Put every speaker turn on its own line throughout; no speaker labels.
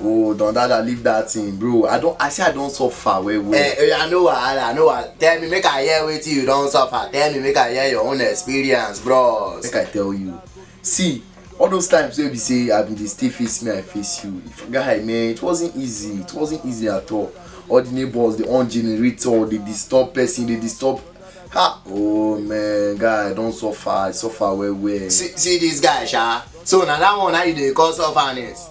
Oh, don dada leave that thing, bro. I don I say I don suffer well well. Eh, oya no wahala, no wahala. Tell me make I hear wetin you don suffer. Tell me make I hear your own experience, bros. Make I tell you. See, all those times wey be say I bin dey stay face me, I face you. Guy, man, it wasn't easy. It wasn't easy at all. All the neighbors, they on generator, they disturb person, they disturb. Ha! Oh man, guy, I don suffer. I suffer well well. See, see this guy, sha. So na that one na you dey call sufferness.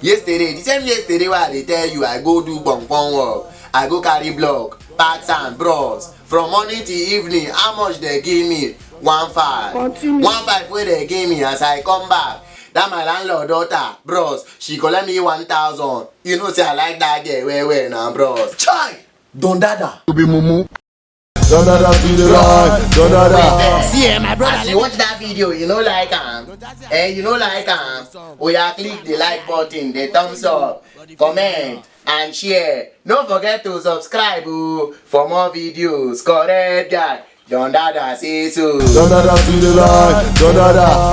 yesterday the same yesterday wey i dey tell you i go do gbongbon work i go carry block pack sand bros from morning till evening how much dey give me one five Continue. one five wey dey give me as i come back that my landlord daughter bros she collect me one thousand you know say i like that girl well well na bros chai don dada. you be mumu Da da da be the right, da da da. See, eh, my brother, As you watch that video, you know like am. Eh, you know like am. Oya click the like button, the thumbs up, comment and share. No forget to subscribe o for more videos. Correct guy, Don Dada say so. Da da da be the right, da da da.